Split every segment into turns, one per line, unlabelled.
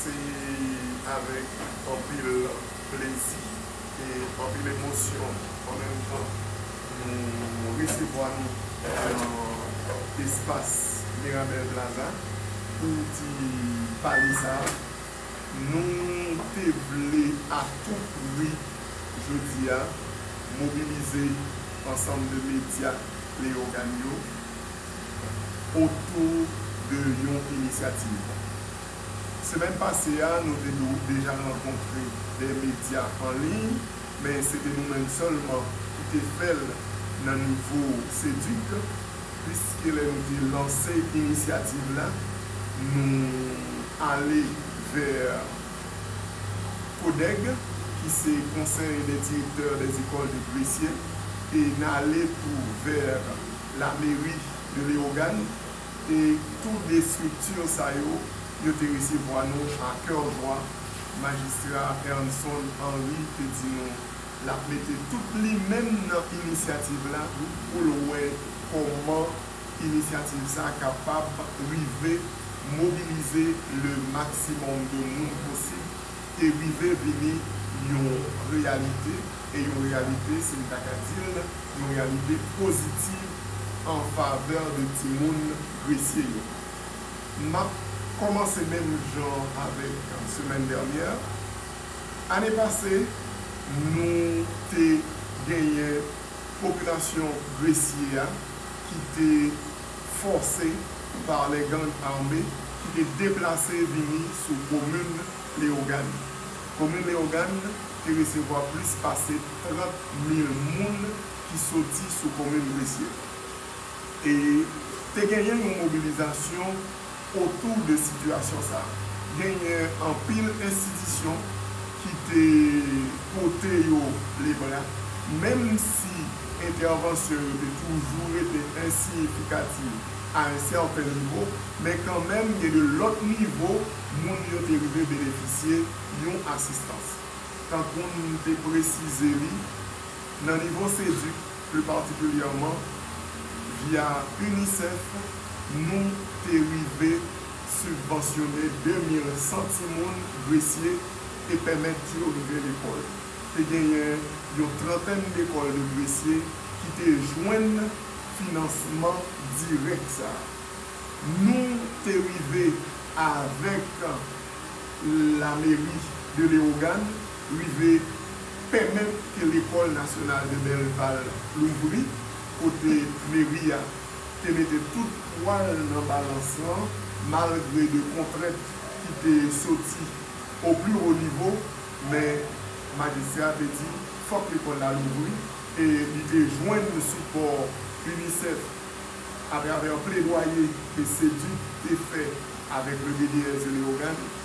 Se avèk anpil plezi e anpil emosyon an menm tan nou resevwa nou nan espas Mirabel Plaza pou di pale sa a. Nou te vle a tou pri jodi a mobilize ansanm de medya Leyogan yo, otou de yon inisyativ. Semèn pase a, nou te deja rankontre dè medya an liy, men se te nou menm sèlman ki te fè l nan nivo CEDUC, puiske lè nou te lanse inisyativ la, nou ale vè CODEG, ki se Conseil des Directeurs des Ecoles de Gresye, e n ale tou vè Lameri de Leyogàn e tou de estrikti sa yo, yo te resevwa nou a kè jwa. Majistra Ernson Henry te di nou l ap mete tout li menm nan inisyativ la pou l wè kòman inisyativ sa a kapab rive mobilize le maksimòm de moun posib. te rive vini yon reyalite, e yon reyalite, si m ta ka di l, yon reyalite pozitiv an favè de timoun Gresye yo. M ap kòmanse menm jan avèk semèn dènyè. Ane pase, nou te genyen popilasyon Gresye a ki te. fòse par les gangs armés ki te deplase vini sou komin Leyogàn. Komin Leyogàn te resevwa plis pase 30 mil moun ki soti sou komin Gresye. E te genyen yon mobilizasyon otou de sitiyasyon sa a. Genyen anpil enstitisyon ki te pote yo lebra, menm si entèvansyon yo te toujou rete ensiyifikativ a yon sèten nivo, men kanmenm gen de lòt nivo moun yo te rive benefisye yon asistans. Tankou n te presize li, nan nivo SEDUC, Pli patikilyèman, via UNICEF, nou te rive sibvansyone 2,000 san timoun Gresye e pèmèt yo rive lekòl. Te genyen yon trantèn lekòl de Gresye ki te jwenn finansman dirèk sa a. Nou te rive avèk Lameri de Lewogàn rive pèmèt ke lekòl nasyonal de Belval louvri, kote meri a te mete tout pwa l nan balans lan malgre de kontrent ki te soti o pli wo nivo, men majistra a te di fòk lekòl la louvri e li te jwenn sipò UNICEF atravè pledwaye ke CEDUC te fè avèk le BDSE Leyogàn.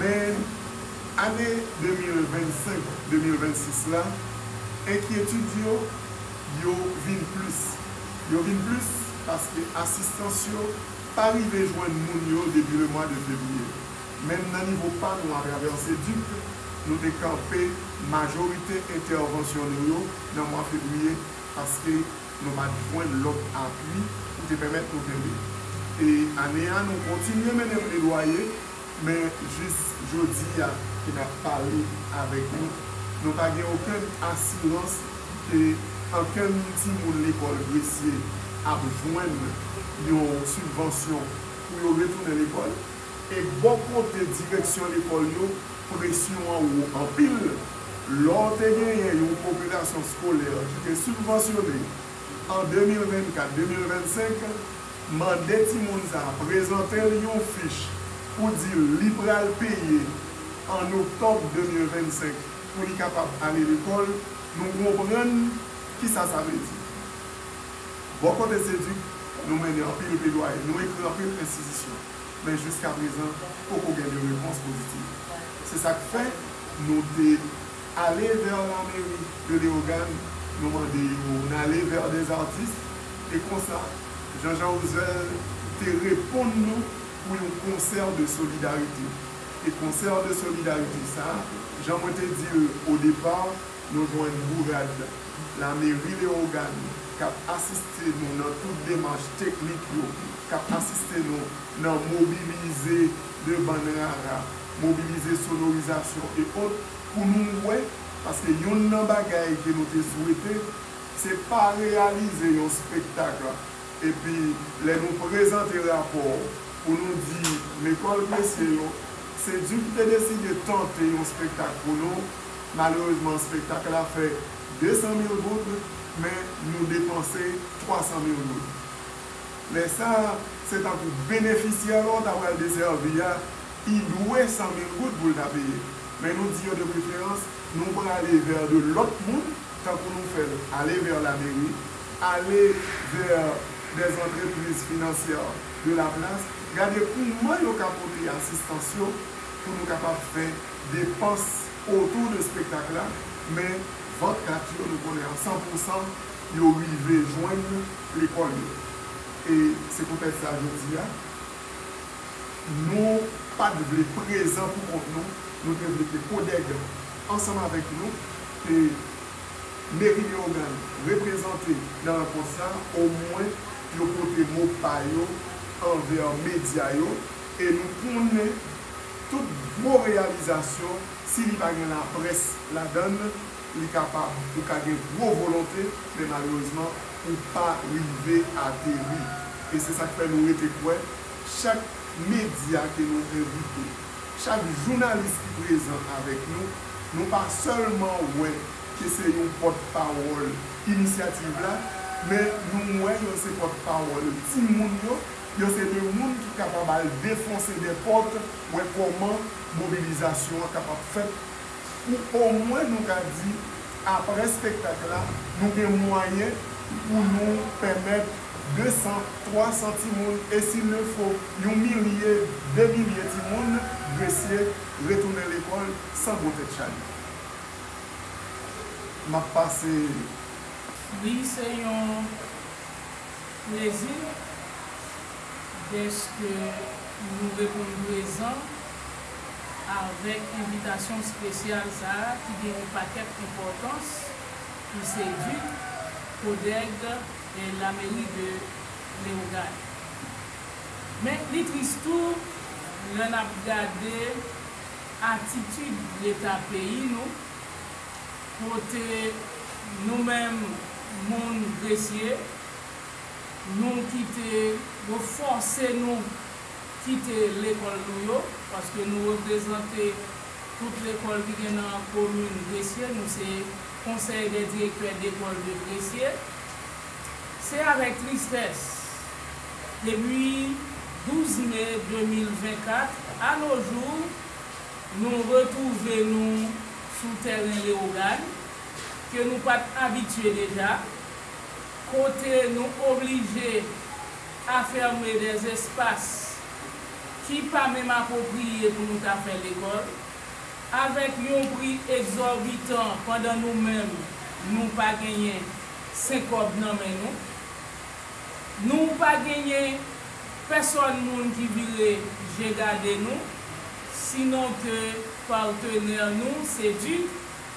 Men, ane 2025, 2026 la, enkyetid yo, yo vin plis. Yo vin plis paske asistans yo pa rive jwenn moun yo depi lemwa de fevriye. Menm nan nivo pa nou atravè Seduc, nou te kanpe majorite entèvansyon nou yo nan mwa fevriye paske nou pa t jwenn lòt apui pou te pèmèt nou kenbe. E ane a nou kontinye mennen pledwaye. Men jis jodi a ke n ap pale avèk nou, nou pa gen okenn asirans ke ankenn timoun lekòl Gresye ap jwenn yon sibvansyon pou yo retounen lekòl. E bò kote direksyon lekòl yo, presyon an wo anpil. Lò w te genyen yon popilasyon skolè ki te sibvansyone an 2024, 2025, Mande timoun sa a prezante l yon fich pou di l li pral peye an oktòb 2025 pou li kapab ale lekòl. Nou konprann ki sa sa vle di. Bò kote Seduc, nou mennen anpil pledwaye, nou ekri anpil enstitisyon, men jiska prezan poko gen de repons pozitif. Se sa k fè nou te ale vè la mairie de Léogâne, nou mande yo, n ale vè des artistes, E konsa, Janjan Ozel te reponn nou pou yon konsè de solidarite. E konsè de solidarite sa, jan mwen te di l o depa, nou jwenn bourad lameri Leyogàn k ap asiste nou nan tout demach teknik yo, k ap asiste nou nan mobilize de bann rara, mobilize sonorizasyon e ot pou nou wè, paske yonn nan bagay ke nou te swete, Se pa reyalize yon spektak la epi lè nou prezante rapò pou nou di lekòl Gresye yo, se di ki te deside tante yon spektak pou nou, malerezman spektak la fè 200 mil goud men nou depanse 300 mil goud. Lè sa a, se tankou benefisyè la w ta pral desèvi a, i dwe 100 mil goud pou l ta peye. Men nou di yo de preferans nou prale vè de lòt moun. tankou nou fè l, aller vers la mairie, aller vers des entreprises financières de la place, gade kouman yo ka pote asistans yo pou nou kapab fè depans autour de spectacle la, men vant kat yo nou konnen a 100 pour 100 yo rive jwenn lekòl yo. E se poutèt sa jodi a nou pa t vle prezan pou kont nou, nou te vle ke CODEG Ansanm avèk nou ke Meri Leyogàn reprezante nan rankont sa, omwen yo pote mo pa yo anvè medya yo e nou konnen tout gwo reyalizasyon si li pa gen laprès ladan l, li kapab ou ka gen gwo volonte men malerezman ou pa rive ateri. E se sa k fè nou rete kwè chak medya ke nou envite. Chak jounalis ki prezan avèk nou, nou pa sèlman wè ke se yon pòt pawòl inisyativ la, men nou wè yo se pòt pawòl ti moun yo, yo se de moun ki kapab al defonse dè pòt, wè kòman mobilizasyon an kapab fèt pou omwen nou ka di aprè spektak la, nou gen mwayen pou nou pèmèt. 200, 300 timoun e s'il le faut yon milye, de milye timoun, Gresye, retounen lekòl san gwo tèt chaje. M ap pase.
Li se yon plezi dèske nou reponn prezan avèk envitasyon spesyal sa a ki gen yon pakèt enpòtans pou Seduc, Codeg, la mairie de Leogane. Men li tris tou lè n ap gade atitid leta peyi nou kote nou menm moun Gresye nou kite yo fòse nou kite lekòl nou yo paske nou reprezante tout lekòl ki gen nan komin Gresye nou se Konsèy dè direktè dekòl depresye, se avèk tristès, depi 12 me 2024 a no jou, nou retwouve nou sou tèren Lewogàn, ke nou pat abitye deja, kote nou oblije afème dè espas ki pa menm apwopriye pou nou ta fè lekòl. Avèk yon pri egzòbitan pandan nou menm nou pa genyen senkòb nan men nou. Nou pa genyen pèsòn moun ki vire je gade nou, sinon ke partenè nou se di.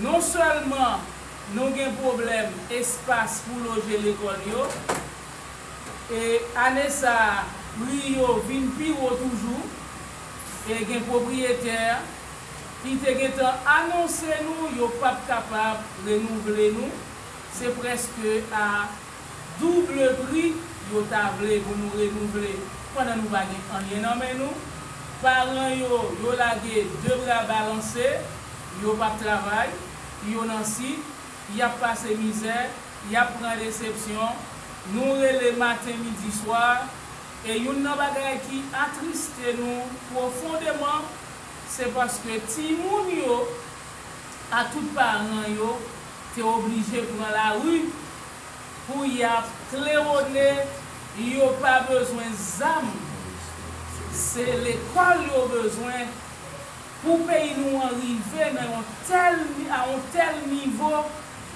Non sèlman nou gen pwoblèm espas pou loje lekòl yo, e ane sa a pri yo vin pi wo toujou, e gen pwopriyetè ki te gentan anonse nou yo pap kapab renouvle nou, se prèske a. Double pri yo ta vle pou nou renouvle pandan nou pa gen anyen nan men nou. Paran yo, yo lage de bra balanse, yo pap travay, yo nan sit, yap pase mizè, yap pran desepsyon, nou rele maten midi swa. E youn nan bagay ki atriste nou pwofondeman, se paske timoun yo a tout paran yo te oblije pran lari pou yap klewone yo pa bezwen zam se lekòl yo bezwen pou peyi nou an rive nan yon tèl a yon tèl nivo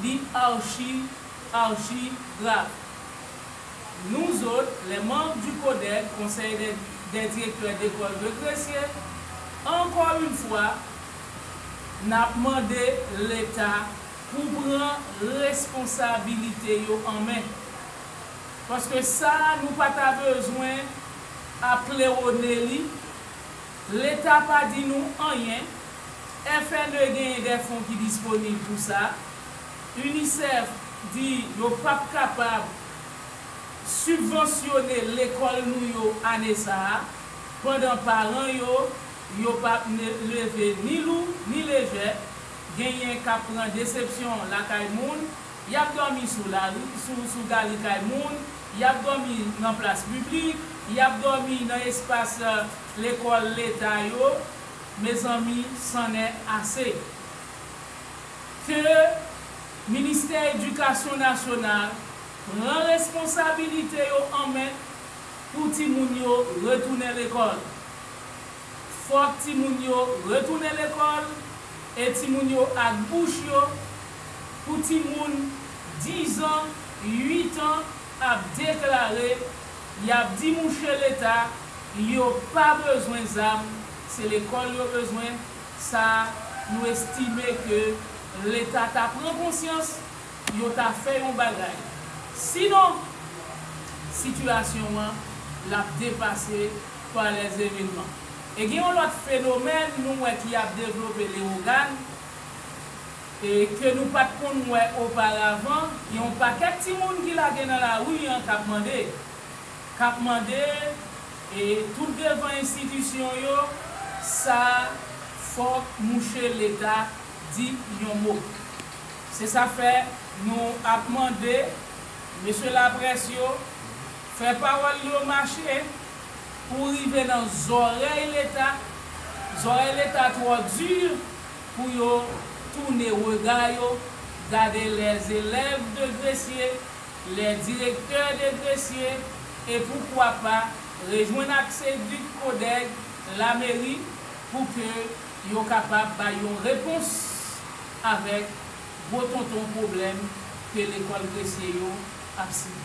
li archi archi grav nou zot les membres du CODED, Conseil des directeurs d'école de Gresye, encore une fois. Nap mande leta pou pran responsabilite yo an men. Paske sa nou pa ta bezwen ap klewone li, leta pa di nou anyen, FNE genyen de fon ki disponib pou sa, UNICEF di yo pap kapab sibvansyone lekòl nou yo ane sa a, pandan paran yo, Yo pap leve ni lou ni lejè, genyen kap pran desepsyon lakay moun, yap dòmi sou lari, sou gali kay moun, yap dòmi nan plas piblik, yap dòmi nan espas lekòl leta yo, mezanmi sannè ase ke ministè edikasyon nasyonal pran responsabilite yo an men pou timoun yo retounen lekòl. Fòk timoun yo retounen lekòl e timoun yo ak bouch yo pou timoun 10 an, 8 an ap deklare yap di mouche leta yo pa bezwen zam se lekòl yo bezwen sa nou estime ke leta ta pran konsyans yo ta fè yon bagay sinon sitiyasyon an lap depase pa lèzemilman. E gen yon lòt fenomèn nou wè ki ap devlope Lewogàn e ke nou pa t konn wè oparavan, gen yon pakèt timoun ki lage nan lari an k ap mande, k ap mande e tout devan enstitisyon yo, sa fòk mouche Leta di yon mo. Se sa fè nou ap mande mesye laprès yo Fè pawòl li yo mache pou rive nan zòrèy leta, zòrèy leta twò di pou yo toune rega yo gade lè zelèv de Gresye, lè direktè de Gresye e poukwa pa rejwenn ak Sedik Kodèg lameri pou ke yo kapab bay yon repons avèk gwo tonton pwoblèm ke lekòl Gresye yo ap sibi.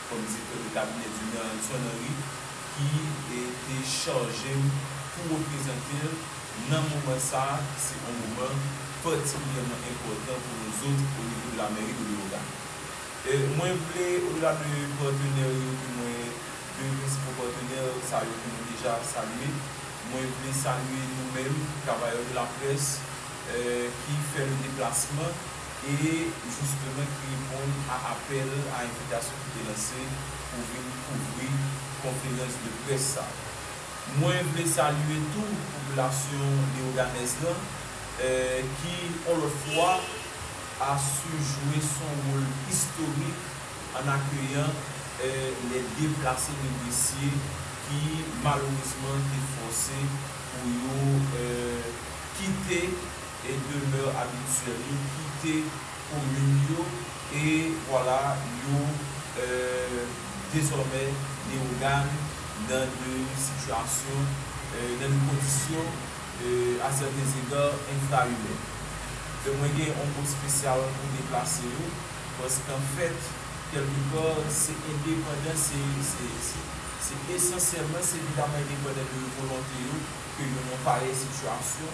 Kom se kote kabinè Dume a, Anson Henry, ki te chaje m pou reprezante l nan moman sa, se yon moman patikilyèman enpòtan pou nou zot o nivo de la mèri de Lewogàn. Mwen vle, o dela de patenè yo ke mwen, de prensipo patenè sa yo ke mwen deja salye, mwen vle salye nou menm travayè de laprès ki fè le deplasman, e jistemen ki reponn a apèl a envitasyon ki te lanse pou vin kouvri konferans de près sa. Mwen vle salye tou popilasyon Leyoganèz lan ki on lòt fwa a su jwe son wol istorik an akeyan lè deplase de Gresye ki malerezman te fòse pou yo kite e demeure habituelle yo kite komin yo e vwala yo dezòmè Leyogàn nan de sitiyasyon nan de kondisyon a sèten ega enfraimè. Donk mwen gen yon mo spesyal pou deplase yo paske anfèt kèlke pa se endepandan se se esansyèlman se evidaman endepandan de volonte yo ke yo nan parèy sitiyasyon.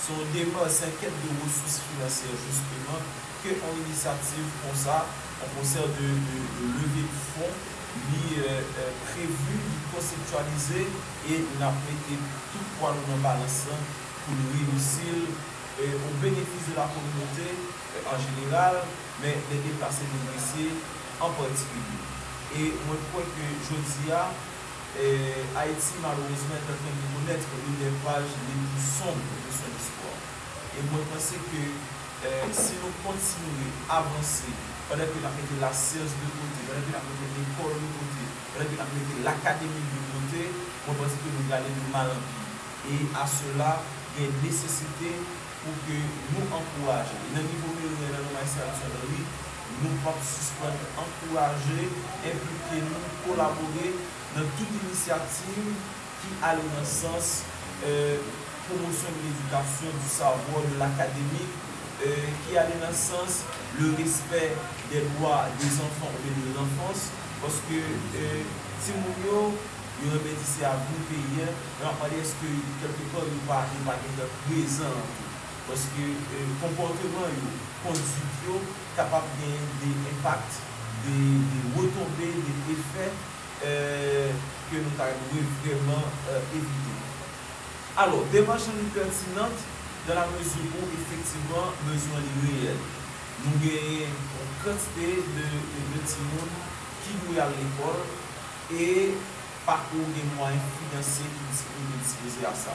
Se yon depans en tèm de resous finansyè jisteman ke yon inisyativ konsa, yon konsèr de leve de fon li prevu, li konseptyalize e n ap mete tout pwa nou nan balans lan pou n reyisi l o benefis de la kominote an jeneral men lè deplase deplese an patikilye. E mwen kwè ke jodi a. Ayiti malerezman est en train de connaitre l'une des pages les plus sombres de son histoire e mwen panse ke si nou kontinye avanse pandan ke nap mete la science de kote, pandan ke nap mete lekòl de kote, pandan ke nap mete l'Académie de kote, mwen panse ke nou prale de mal en pire e a sela gen nesesite pou ke nou ankouraje e nan nivo meri an, nan non Maestral Etienne Henry. Nou pap sispann ankouraje, enplike nou, kolabore nan tout inisyativ ki ale nan sans promotion de l'éducation, du savoir, de l'académique, ki ale nan sans le respect des droits des enfants oubyen de l'enfance, paske timoun yo, yo renmen di se avni peyi a, men m ap mande èske kèlke pàn yo pa gentan prezan an tou. Paske konpòteman yo, konduit yo kapab gen de enpak, de retonbe, de efè ke nou ta dwe vrèman evite. Alò, demach lan li pètinant dan la mezi ou efektivman bezwen li reyèl. Nou genyen yon kantite de timoun ki dwe al lekòl e pa ko gen mwayen finansye ki dispoze a sa.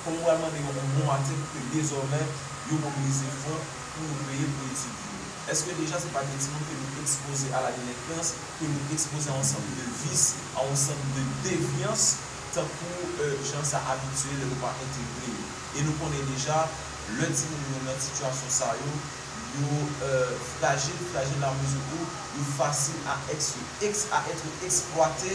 Fò m pral mande yon bon atik pou ke dezòmè yo mobilize fon pou yo peye pou etid yo. Eske deja se pa de timoun ke nou ekspoze a la delenkans, ke nou ekspoze a on sant de vis, a on sant de devyans tankou jan sa abitye lè nou pa entegre yo. E nou konnen deja lè timoun yo nan sitiyasyon sa yo, yo frajil, frajil a mezi kou yo fasil a èks yo èks a ètre eksplwate.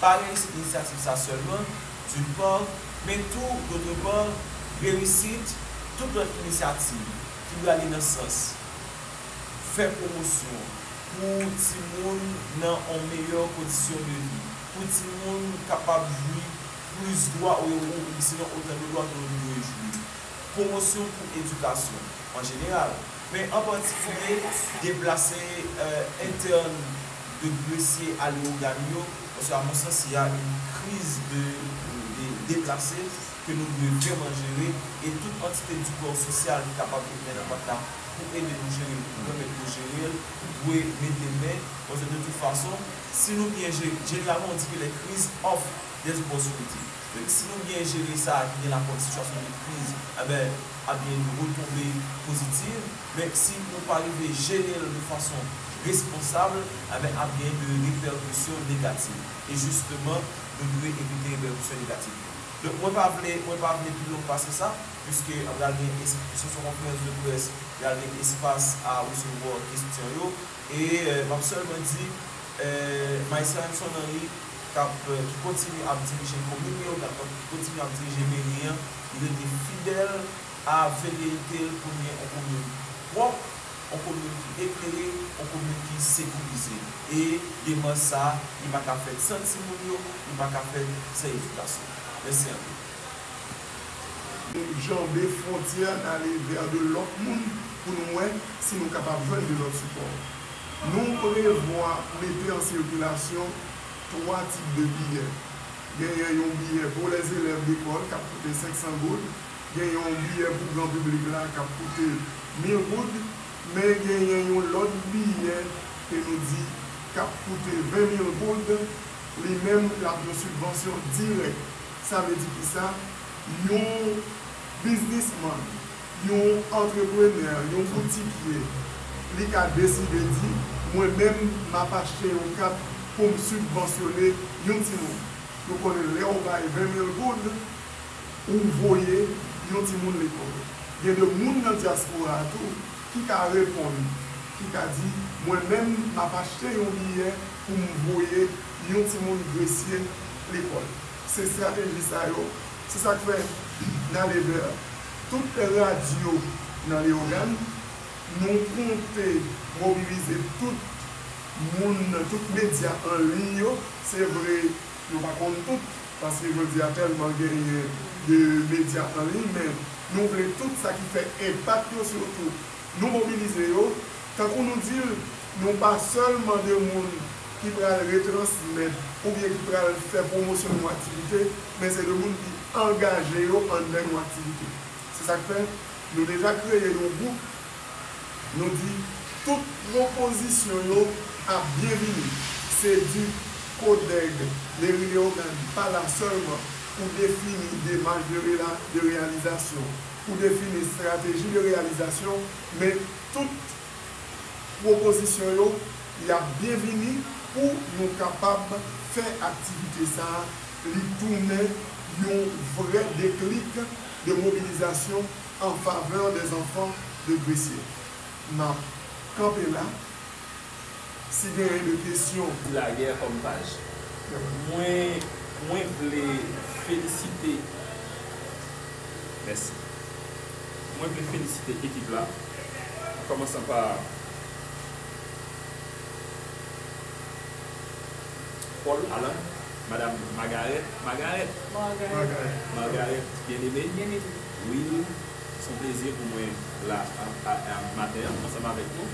pa reyisit inisyativ sa sèlman, d'une part, men tou, d'autre part, reyisit tout lòt inisyativ ki prale nan sans fè pwomosyon pou timoun nan on meyè kondisyon de vi, pou timoun kapab jwi plis dwa ou yo ou bisinon otan de dwa ke yo te dwe jwi, pwomosyon pou edikasyon an jeneral. men an patikilye deplase entèn de Gresye a Leogane yo, paske a mon sans y a yn kriz de deplase ke nou dwe vrèman jere e tout antite di kò sosyal ki kapab met men nan pat la pou ede nou jere l, pou pèmèt yo jere l, dwe mete men, paske de tout fason si nou byen jere, jeneralman ou di ke lè kriz of. Yes boss Rudy. Depi si nou byen jere sa ki gen lakòz sitiyasyon de kriz enben ap gen yon retonbe pozitiv men si nou pa rive jere l de fason responsab enben ap gen de repèkisyon negativ e jisteman nou dwe evite repèkisyon negativ yo. Donk mwen pa vle mwen pa vle pi long pase sa puiske pral gen es puiske se yon konferans de près pral gen espas a resevwa kestyon yo. E m ap sèlman di, Maissainson Henri k ap, ki kontinye ap dirije komin yo, k ap kontinye ap dirije meri an, li rete fidèl a veleyite l pou n gen yon komin pwòp, yon komin ki eklere, yon komin ki sekirize. E demach sa a, li pa ka fèt san timoun yo, li pa ka fèt san edikasyon. Mèsi anpil. janbe
fwontyè a, n ale vè de lòt moun pou nou wè si nou kapab jwenn de lòt sipò. Nou prevwa mete an sikilasyon 3 tip de biyè. Genyen yon biyè pou lèzelèv lekòl k ap koute 500 goud, gen yon biyè pou gran piblik la k ap koute 1000 goud, men genyen yon lòt biyè ke nou di k ap koute 20 mil goud, li menm l ap yon sibvansyon dirèk. Sa vle di kisa? Yon biznisman, yon antreprenè, yon boutikye, li ka deside di, mwen menm m ap achte yon kat pou m sibvansyone yon timoun. Nou konnen lè ou bay 20 mil goud, ou voye yon timoun lekòl. Gen de moun nan dyaspora a tou ki ka reponn, ki ka di, mwen menm m ap achte yon biyè pou m voye. yon timoun gresye lekòl. Se estrateji sa yo, se sa k fè n a leve tout radyo nan Leyogàn, nou konte mobilize tout moun, tout medya an liy yo. Se vre nou pa konn tout, paske jodi a tèlman genyen de medya an liy, men nou vle tout sa ki fè enpak yo sitou. Nou mobilize yo, tankou nou di l, nou pa sèlman de moun ki pral retransmèt oubyen ki pral fè pwomosyon yon aktivite, men se de moun ki angaje yo anndan yon aktivite. Se sa k fè, nou deja kreye yon gwoup, nou di tout pwopozisyon yo ap byenvini. Seduc, Codeg, Meri Leyogàn pa la sèlman pou defini demach de reyalizasyon. pou defini estrateji de reyalizasyon men tout pwopozisyon yo y ap byenvini pou nou kapab fè aktivite sa a li tounen yon vrè deklik de mobilizasyon an favè dè zanfan de Gresye. M ap kanpe la. Si gen yon de kesyon. Ti lagè kòm
paj. Mwen mwen vle felisite. Mèsi. Mwen vle felisite ekip la an kòmansan pa Paul Alan madam Magarèt Magarèt Margarèt byen eme Will son plezi pou mwen la maten an ansanm avèk nou.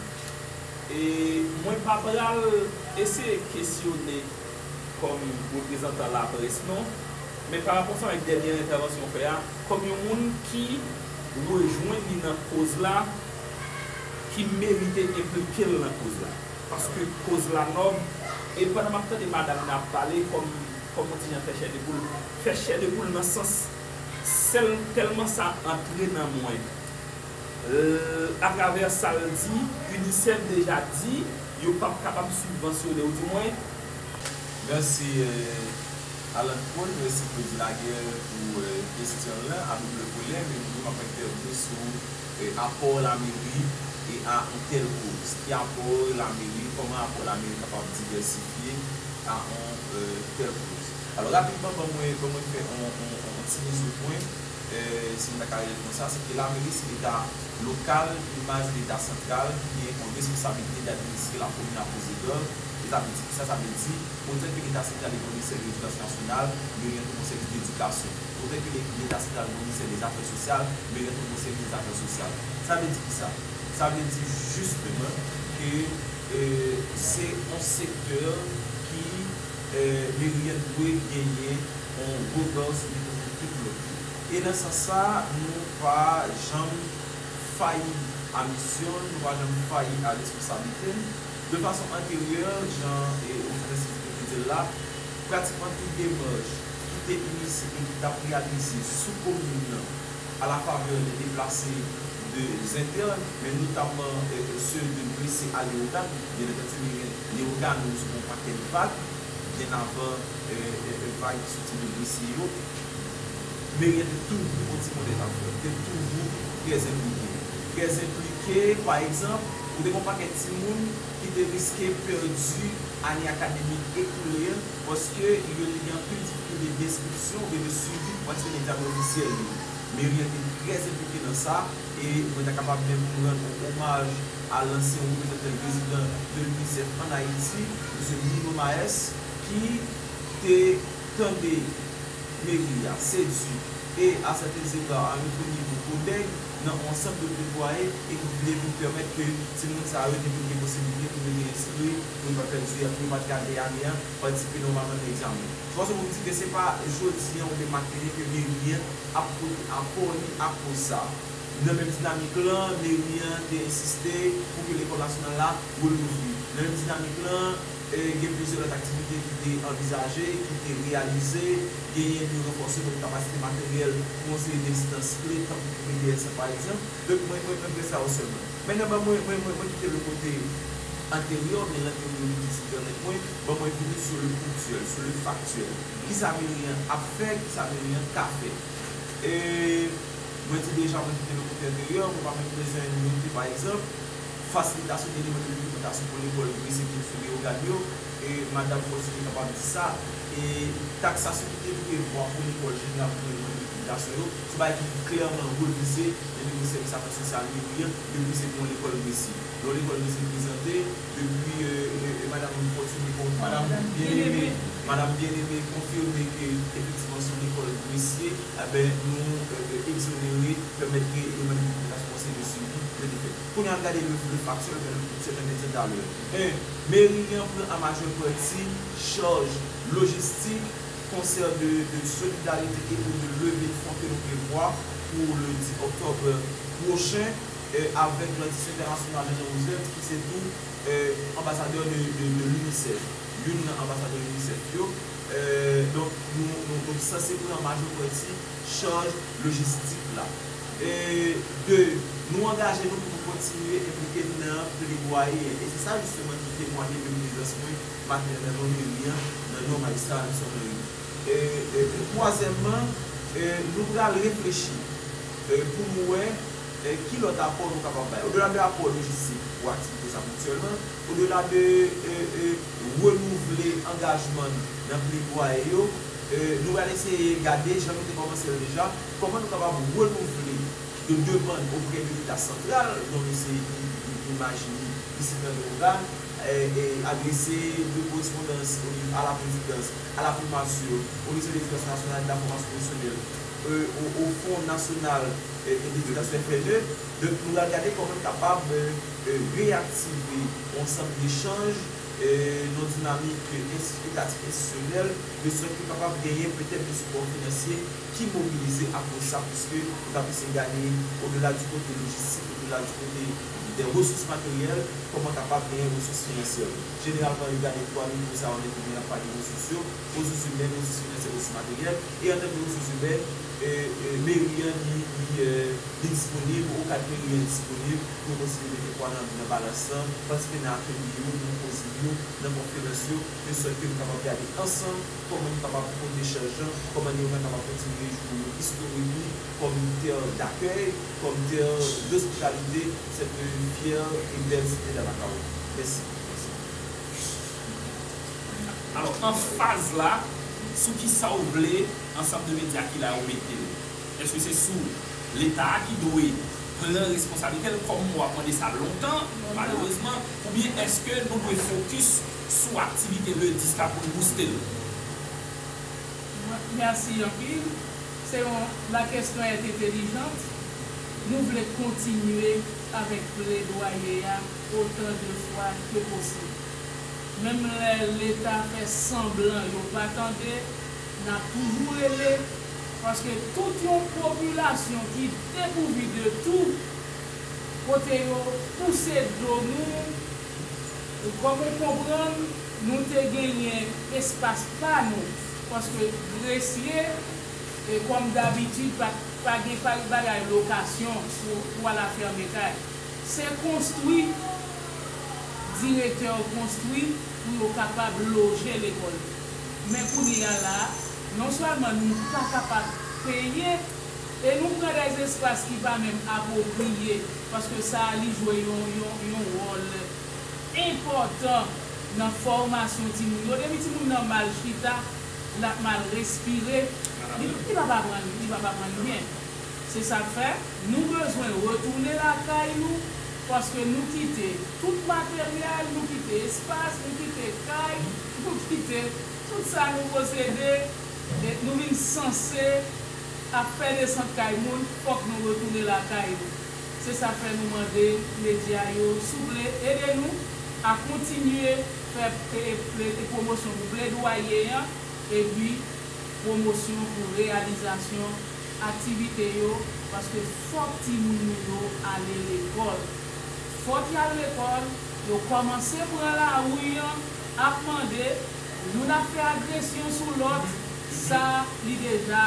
E mwen pa pral eseye kesyone kòm reprezantan laprès non, men parapò sa avèk dènyè entèvansyon w fè a, kòm yon moun ki rejwenn li nan koz la, ki merite enplike l nan koz la. Paske koz la nòb, e pandan m ap tande madam nan ap pale, kò m kòm yon ti jan fè chè de poul, fè chè de poul nan sans sèl tèlman sa antre nan mwen. L atravè sa l di, Unicef deja di yo p ap kapab sibvansyone ou di mwen. Mèsi
Alan Paul, mèsi Claudy Laguerre pou kesyon l lan a double volè, men m di m ap entèvni sou apò lameri a on tèl koz. Ki apò lameri, kòman apò lameri kapab divèsifye a on tèl koz. Alò rapidman ban mwen fè on ti mizopwen si m ta ka rele l konsa, se ke lameri se leta lokal debaz leta santral ki gen yon responsabilite d'administre la komin a poze dòl, e sa vle di kisa? Sa vle di, otè ke leta santral li gon ministè de ledikasyon nasyonal, yo gen tou gon sèvis d'edikasyon. Otè ke leta santral gon ministè de zafè sosyal, yo gen tou gon sèvis de zafè sosyal. Sa vle di kisa? Sa vle di jisteman ke se yon sektè ki meriyen dwe genyen. yon gwo dòz vitamin ki pou yo. E nan sans sa a, nou pa janm fayi a misyon n, nou pa janm fayi a responsablite n. De fason anteryè, jan yon frè sèvitè te di l la, pratikman tout demach ki te inisye e ki t ap reyalize sou komin nan a la faveur de deplase de zentèn, men notamman ceux de blessés à Léogâne, byen antandi, li gen Léogâne sou yon pakèt vag. byen avan vag ki soti de Gresye yo. Meriel te toujou yon ti modèl ankò, li te toujou trè enplike. Trè enplike, pa egzanp, ou te gen yon pakèt timoun ki te riske pèdi ane akademik ekoule an paske yo te gen anpil difikilte denskripsyon oubyen de swivi pou pase nan egzamen ofisyèl yo. Meriel te trè enplike nan sa e mwen ta kapab menm rann yon omaj a lanse yon reprezantan prezidan 2017 ann Ayiti, Msye Bruno Maes, ki te tande meri a, Sedu, e a sèten zega a yon premye kou koudèy nan yon sant de pletwaye e ki vle vin pèmèt ke timoun sa yo te vin gen posiblite pou rete enskri, pou yo pa pèdi a, pou yo pa t gate ane a, patisipe nòmalman nan egzamen. Se fason pou m di ke se pa jodi an oubyen matene ke meri an ap pote apò li ak koz sa a. Nan menm dinamik lan, meri an te ensiste pou ke lekòl nasyonal la relouvri. Nan menm dinamik lan, gen plizyè lòt aktivite ki te anvizaje, ki te reyalize. Genyen pou yo ranfòse lòt kapasite materyèl pou yon seri de enstans kle, tankou pou BTS la pa egzanp. Donk, mwen, mwen, mwen pran sa o sèman. Mennan ban mwen, mwen, mwen, mwen kite l o kote anteryè oubyen lanteryè oubyen ki site anèt mwen, ban mwen vini sou le ponktyèl, sou le faktyèl. Kisa meri an ap fè, kisa meri an ka fè. E. Mwen di deja mwen kite lokitè deyò, mwen pa menm bezwen note pa egzanp, fasilitasyon te demande dokimantasyon pou lekòl dwe sete sou Leyogàn yo, e Madam Fòti te kapab di sa, e taksasyon ki te prevwa pou lekòl jeneral pou pran demann dokimantasyon yo, se bagay ki fin klèman refize nan nivo sèvis afè sosyal yo, li, depi se pou yon lekòl dwe si. Lè yon lekòl dwe se prezante. Epi e madam li kontinye konf madam Byeneme madam Byeneme konfime ke efektivman son lekòl presye enben nou egzonere pèmèt ke yo menm ki responsab de swivi yo te fè. Kounye a gade le faksyèl vè yon sèten medya talè 1 meri an pran an majè pati chaj lojistik konsè de solidarite e pou de leve fon ke nou prevwa pou le 10 oktòb pwochen. avèk Grandisyon Entènasyonal Jean-Jean Roosevelt ki se tou Anbasadè de l'UNICEF, youn nan Anbasadè UNICEF yo, donk nou sanse pran majò pati chaj lojistik la. 2, Nou angaje nou pou nou kontinye enplike n nan pledwaye an, e se sa jisteman ki temwanye de prezans mwen maten nan non Meri an, nan non Majistra Alexandre Henry. Pou twazyèmman, nou pral reflechi pou nou wè ki lòt apò nou kapab bay. Odela de apò lojistik pou aktivite sa ponktyèlman, odela de renouvle angajman n nan pledwaye yo, nou pral eseye gade, jan nou te kòmanse l deja, kòman nou kapab renouvle de demann oprè de Leta santral, non mesye Guy Magie isit nan Leogane, adrese de korespondans a la prezidans, a la primature, au ministère de l'Education nationale et de la formation professionnelle, o fon nasyonal edikasyon enfèmè, donk nou pral gade kòman n kapab reyaktive yon ansanm dechanj nan dinamik edikatif enstitisyonèl de sòt ke kapab genyen petèt de sipò finansye ki mobilize apwòch sa pwiske nou ta plis egane odela di kote lojistik, odela di kote de resous materyèl, kòman kapab genyen resous finansyè. Jeneralman yo gade 3 nivo sa yo lè nou vin ap pale resous yo, resous imèn, resous finansye, resous materyèl. E an tanke resous imè, meri an li disponib, okap meri an disponib pou yo kontinye mete pwa nan balans lan, patisipe nan atelye yo, nan koze yo, nan konferans yo, de sòt ke nou kapab gade ansanm kòman nou kapab pote chaj lan, kòman Neoma kapab kontinye jwe wòl istorik li kòm tè dakèy, kòm tè dospitalite, sèt fyè e bèl site Dalakow. Mèsi.
Alò anfaz la sou kisa ou vle ansanm de medya ki la yo mete l? Eske se sou leta a ki dwe pran responsablite l kòm mwen ap mande sa lontan malerezman oubyen eske nou dwe fokis sou aktivite le 10 la pou n bouste l?
Mèsi anpil. Se yon la kesyon est intelligente. Nou vle kontinye avèk pledwaye a. otan de fwa ke posib. Menm lè leta fè sanblan yo pa tande, n ap toujou rele, paske tout yon popilasyon ki depouvi de tou, kote yo pouse do nou, kòm ou konprann, nou te genyen espas pa nou, paske gresye, kòm dabitid, pa gen bagay lokasyon pou al afème kay. Se konstwi, direktè yo konstwi pou yo kapab loje lekòl yo. Men kounye a la a, non sèlman nou pa kapab peye e nou pran dè espas ki pa menm apwopriye paske sa a li jwe yon wòl enpòtan nan fòmasyon timoun yo. Depi timoun nan mal chita, l ap mal respire, li p ap aprann byen. Se sa k fè, nou bezwen retounen lakay nou, paske nou kite tout materyèl, nou kite espas, nou kite kay, nou kite tout sa nou posede, e nou vin sanse ap fè desant kay moun, fòk nou retounen lakay nou. Se sa k fè nou mande medya yo, souple, ede nou a kontinye fè pwomosyon pou pledwaye an, epi pwomosyon pou reyalizasyon. aktivite yo paske fòk timoun nou yo ale lekòl. Fòk y al lekòl, yo kòmanse pran lari an ap mande, youn ap fè agresyon sou lòt, sa li deja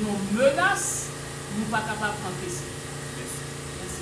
yon menas nou pa kapab ankese. Mèsi.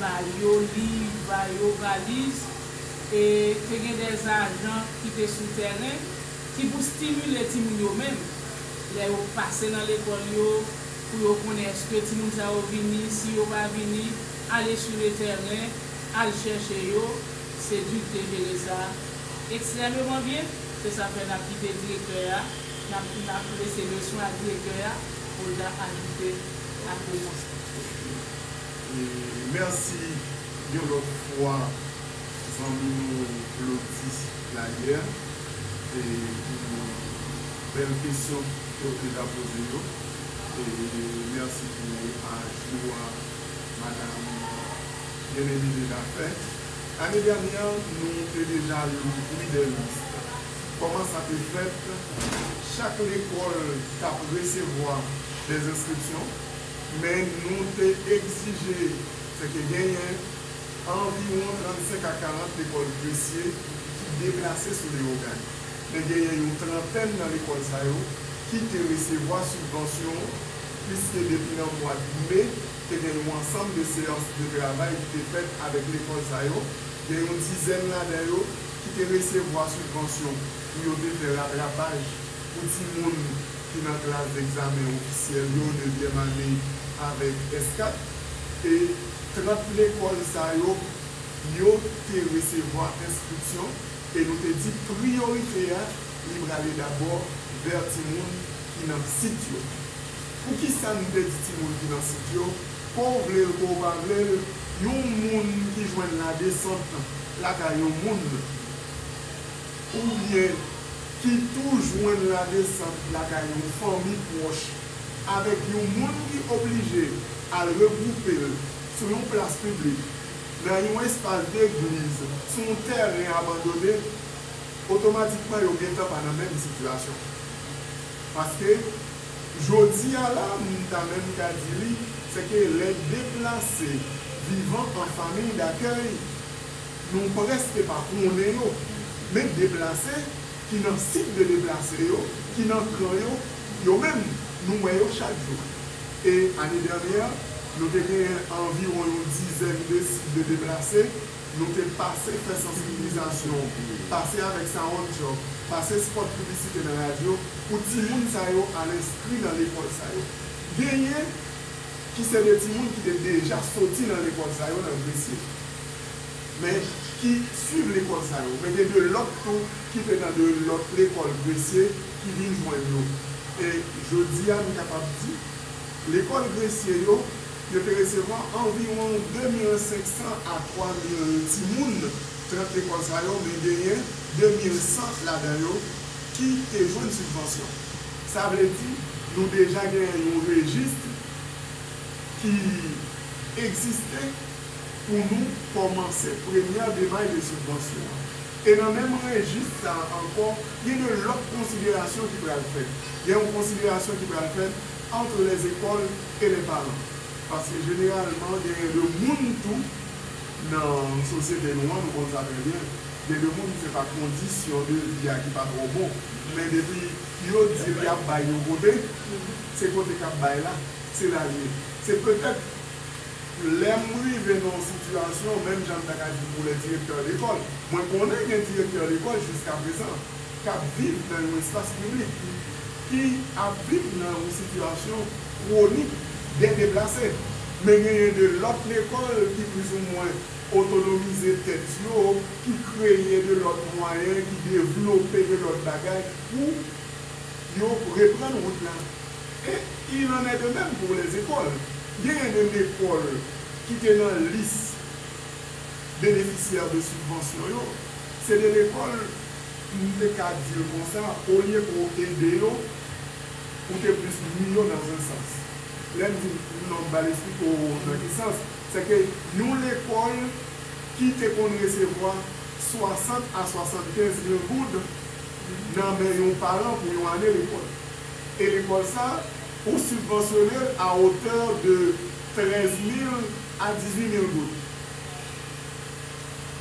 ba yo liv, ba yo valiz, e te gen dè ajan ki te sou tèren ki pou stimile timoun yo menm lè yo pase nan lekòl yo pou yo konnen èske timoun sa yo vini, si yo pa vini, ale sou le tèren, al chèche yo, Seduc te jere sa ekstrèmeman byen, se sa fè n ap kite direktè a, n ap n ap lese leswen a direktè a pou l ta ajoute ak remons li.
Merci yon lot fwa zanmi nou Claudy Layer pou bel kesyon ke ou deja poze yo e merci pou reparaj ou a madam Bien Aimé Desjardins. Ane dènyè nou te deja louvri 2 list. Koman sa te fèt? Chak lekol tap resevwa 2 enskripsyon. Men nou te egzije fè ke genyen anviwon 35 a 40 lekòl Gresye ki deplase sou Leyogàn. Men genyen yon trantèn nan lekòl sa yo ki te resevwa sibvansyon piske depi nan mwad Me te gen yon ansanm de seyans de travay ki te fèt avèk lekòl sa yo. Gen yon dizèn ladan yo ki te resevwa sibvansyon pou yo te fè ratrapaj pou timoun. ki nan klas degzamen ofisyèl yo, nevyèm ane avèk S4, e 30 lekòl sa yo, yo te resevwa enskripsyon, e nou te di priyorite a li prale dabò vè timoun ki nan sit yo. Poukisa n te di timoun ki nan sit yo? Ke w vle l, ke w pa vle l, yon moun ki jwenn ladesant lakay yon moun, oubyen ki tou jwenn ladesant lakay yon fanmi pwòch avèk yon moun ki oblije al regwoupe l sou yon plas piblik, nan yon espas legliz, sou yon tèren abandone, otomatikman yo gentan pa nan menm sitiyasyon. Paske, jodi a la, m ta menm ka di li, sèke lè deplase vivan an famiy dakèy, Nou prèske pa konnen yo. Men deplase ki nan sit de deplase yo, ki nan kan yo, yo menm, nou wè yo chak jou. E ane dènyè, nou te genyen anviwon yon dizèn de sit de deplase. Nou te pase fè sansibilizasyon, pase avèk sawonn tchòk, pase spòt piblisite nan radyo pou timoun sa yo al enskri nan lekòl sa yo. Genyen ki se de timoun ki te deja soti nan lekòl sa yo nan Gresye. men ki swiv lekòl sa yo. Men gen de lòt tou ki te nan de lòt lekòl Gresye ki vin jwenn yo. E jodi a, m kapab di, lekòl Gresye yo, yo te resevwa anviwon 2 mil 500 a 3 mil timoun, 30 lekòl sa yo, men genyen 2 mil 100 ladan yo ki te jwenn sibvansyon. Sa vle di, nou deja genyen yon rejis ki egziste. pou nou kòmanse premyè demach de sibvansyon an. E nan menm rejis sa a ankò, gen de lòt konsiderasyon ki pral fèt. Gen yon konsiderasyon ki pral fèt ant lèzekòl e lèparan. Paske jeneralman genyen de moun tou nan sosyete nou an, nou konn sa trè byen, gen de moun se pa kondisyon de vi a ki pa twò bon, men depi yo di l y ap bay yon kote, se kote k ap bay la, se la l ye. Se petèt. Lè m rive nan yon sitiyasyon, menm jan m ta ka di pou lè direktè lekòl, mwen konnen gen direktè lekòl jiskaprezan k ap viv nan yon espas piblik, ki ap viv nan yon sitiyasyon kwonik de deplase. Men genyen de lòt lekòl ki plizoumwen otonomize tèt yo, ki kreye de lòt mwayen, ki devlope de lòt bagay pou yo reprann wout la. E il en est de même pour les écoles. Genyen de lekòl ki te nan lis benefisyè de sibvansyon yo, se de lekòl m te ka di l konsa olye ke w ede yo, ou te plis nui yo nan un sans. Lè m di m non m pral esplike w nan ki sans, se ke yon lekòl ki te konn resevwa 60 a 75 mil goud nan men yon paran pou yon ane lekòl, e lekòl sa ou sibvansyone l a otè de 13 mil a 18 mil goud.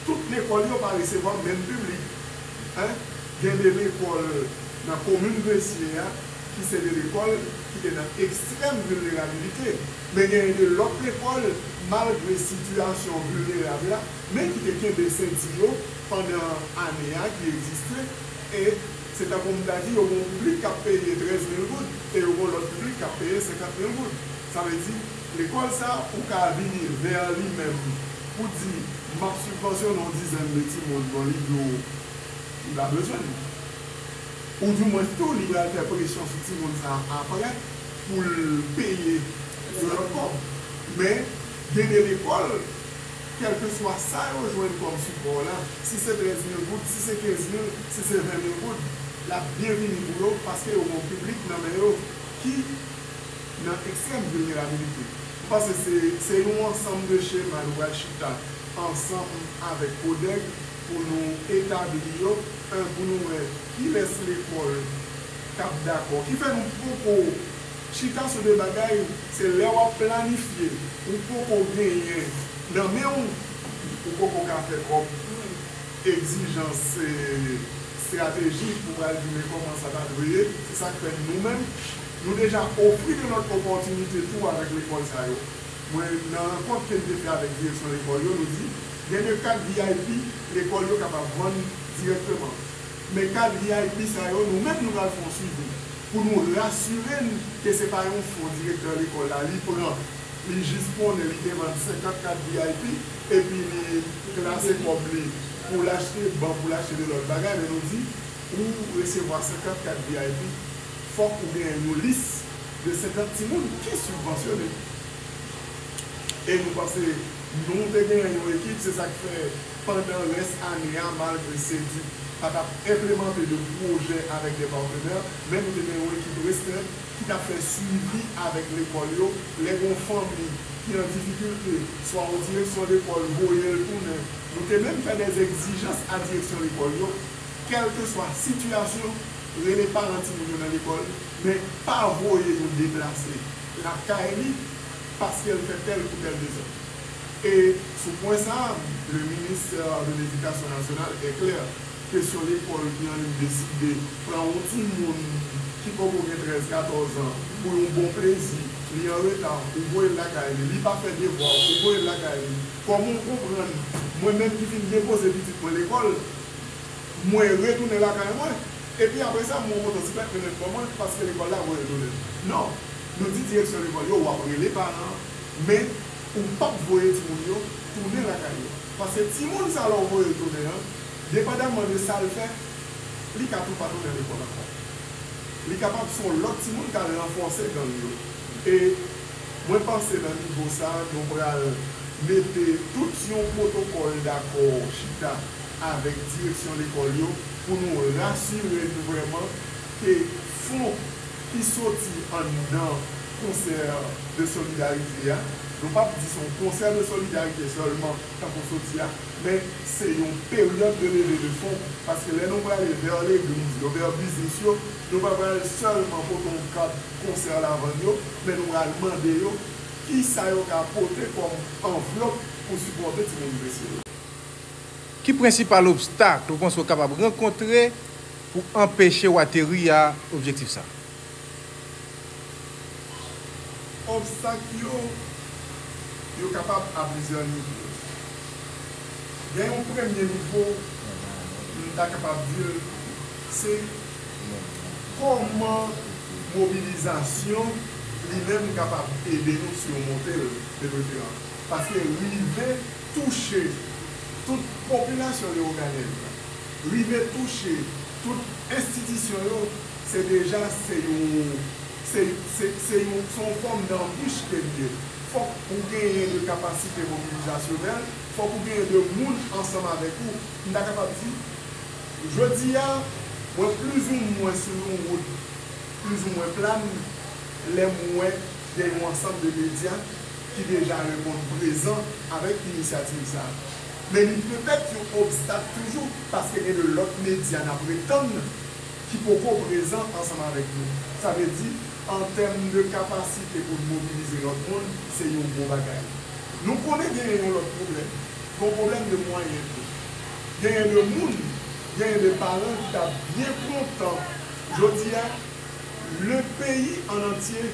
Tout lekòl yo pa resevwa menm piblik. Gen de lekòl nan komin Gresye a ki se de lekòl ki te nan ekstrèm vilnerabilite, men genyen de lòt lekòl malgre sitiyasyon vilnerab la men ki te kenbe senti yo pandan ane a ki egziste e Se tankou m ta di yo gen yon piblik k ap peye 13 mil goud e yo gen yon lòt piblik k ap peye 50 mil goud. Sa vle di, lekòl sa a, ou ka vini vè li menm pou di, m ap sibvansyonnen yon dizèn de timoun bon li di w li pa bezwen l. Ou di mwen tou li pral fè presyon sou timoun sa a aprè pou l peye yon lòt kòb. Men, gen de lekòl Kèlkeswa sa yo jwenn kòm sipò la, si se 13 mil goud, si se 15 mil, si se 20 mil goud, l ap byen vini pou yo paske yo gen yon piblik nan men yo ki nan ekstrèm vilnerabilite. M panse se se yon ansanm de chema nou pral chita ansanm avèk CODEG pou nou etabli yo, 1 pou nou wè kilès lekòl k ap dakò, ki fè nou poko Chita sou de bagay, se lè wap planifye ou poko genyen nan men ou, ou poko ka fè kòb, egzijans se strateji ou pral di men kòman sa ta dwe ye, se sak fè nou menm nou deja ofri de lòt opòtinite tou avèk lekòl sa yo, mwen nan rankont kem te fè avèk direksyon lekòl yo nou di gen de kat vip lekòl yo kapab vann dirèkteman. Men kad vip sa yo, nou menm nou pral fè yon swivi pou nou rasire n ke se pa yon fon direktè lekòl la li pran, li jis konnen li te vann 50 kad vip epi li klase kòb li pou l achte ban, pou l achte de lòt bagay, men nou di pou w resevwa 50 kad vip fòk ou genyen yon lis de 50 timoun ki sibvansyone. E nou panse nou te genyen yon ekip, se sa k fè. pandan rès ane a malgre Seduc pa t ap enplemante de pwojè avèk de patenè men nou te gen yon ekip restren ki t ap fè swivi avèk lekòl yo lè gen yon fanmi ki an difikilte swa yon direksyon lekòl voye l tounen nou te menm fè de egzijans a direksyon lekòl yo kèlkeswa sitiyasyon rele paran timoun yo nan lekòl men pa voye yon deplase lakay li paske l fè tèl kou tèl dezòd. E sou pwen sa a, le ministè de ledikasyon nasyonal e klè, kesyon lekòl ki annik deside pran yon timoun ki poko gen 13, 14 an pou yon bon plezi, li an reta, ou voye l lakay li, li pa fè devwa, ou voye l lakay li, kòman w konprann mwen menm ki fin depoze pitit mwen lekòl, mwen retounen lakay mwen, epi apre sa mwen kontan si pèp mwen ret bò mwen paske lekòl la voye l tounen? Non, nou di direksyon lekòl yo w ap rele paran an, Men ou pap voye timoun yo tounen lakay yo. Paske timoun sa lè w voye l tounen an, depandamman de sa l fè, li ka tou pa tounen lekòl ankò. Li kapab se yon lòt timoun k al ranfòse gang yo. E mwen panse nan nivo sa a, nou pral mete tout yon pwotokòl dakò chita avèk direksyon lekòl yo pou nou rasire n vrèman ke fon. ki soti anndan concert de solidarite a, nou pap di se yon concert de solidarite sèlman tankou soti a, men se yon peryòd de levée de fonds, paske lè nou prale vers l'église yo, vers biznis yo, nou pa pral sèlman pote yon kat concert la vann yo, men nou pral mande yo kisa yo ka pote kòm anvlòp pou sipòte timoun blese yo.
Ki prensipal obstak ou panse ou kapab rankontre Pou anpeche w ateri a objektif sa.
Obstak yo, yo kapab a plizyè nivo. Gen yon premye nivo, m ta kapab di l se kòman mobilizasyon li menm kapab ede nou simonte l de preferans. Paske rive touche tout popilasyon Lewoganyen an. rive touche tout enstitisyon yo se deja se yon se se se yon se yon fòm danbich ke li ye. Fòk ou genyen de kapasite mobilizasyonèl, fòk ou genyen de moun ansanm avèk ou. M ta kapab di jodi a mwen plizoumwen sou yon wout plizoumwen plan lè m wè gen yon ansanm de medya ki deja reponn prezan avèk inisyativ sa a. Men li petèt yon obstak toujou paske gen de lòt medya n ap retann ki poko prezan ansanm avèk nou. Sa vle di, an tèm de kapasite pou n mobilize lòt moun, se yon gwo bagay. Nou konnen genyen yon lòt pwoblèm. Gon pwoblèm de mwayen tou. Genyen de moun, genyen de paran ki ta byen kontan jodi a le peyi an antye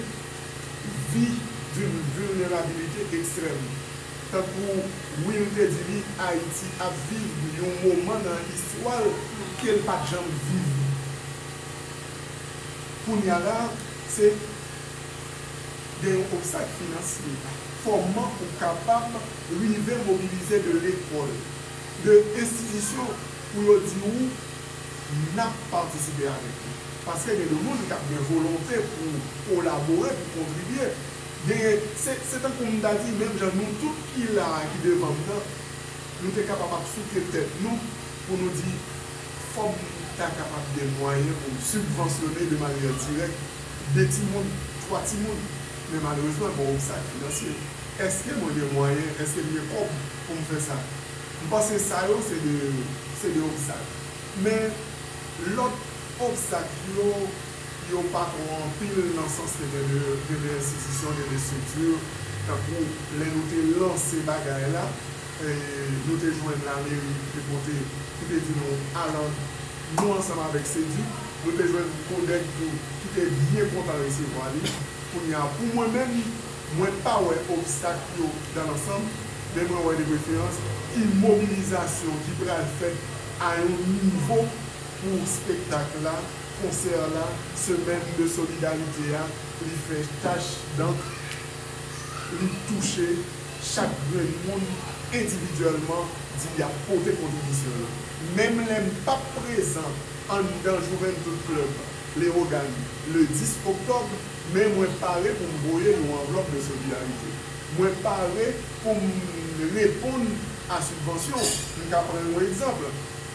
vi d'une vulnerabilité extrême. Tankou Will te di li, Ayiti ap viv yon moman nan istwa l ke l pa t janm viv kounya la a, se gen yon obstak finansye. Kòman ou kapab rive mobilize de lekòl, de enstitisyon pou yo di ou n ap patisipe avèk ou? Paske gen de moun k ap gen volonte pou kolabore, pou kontribye. Genyen, se, se tankou m ta di, menm jan nou tout ki la a, ki devan m nan, nou te kapab ap souke tèt nou pou nou di, fò m ta kapab gen mwayen pou m sibvansyone de manyè dirèk de timoun, twa timoun, men malerezman gen yon obstak finansye. Èske mwen gen mwayen, èske m gen kòb pou m fè sa? M panse sa yo se de, se de obstak. Men lòt obstak yo. yo pa twò anpil nan sans ke gen 2 enstitisyon, gen 2 estrikti, tankou lè nou te lanse bagay la, nou te jwenn lameri ki te pote, ki te di nou alan nou ansanm avèk Seduc, nou te jwenn Codec tou ki te byen kontan resevwa li, kounye a pou mwen menm, mwen pa wè obstak yo dan lansanm, men mwen wè de preferans yn mobilizasyon ki pral fèt a yon nivo pou spektak la. konsè la semèn de solidarite a li fè tach dankr li touche chak grenn moun endividyèlman di yap pote kontribisyon yo menm lè m pap prezan anndan Juventud Club Leogane le 10 oktòb men mwen pare pou m voye yon anvlòp de solidarite mwen pare pou m reponn a sibvansyon m ka pran yon egzanpl.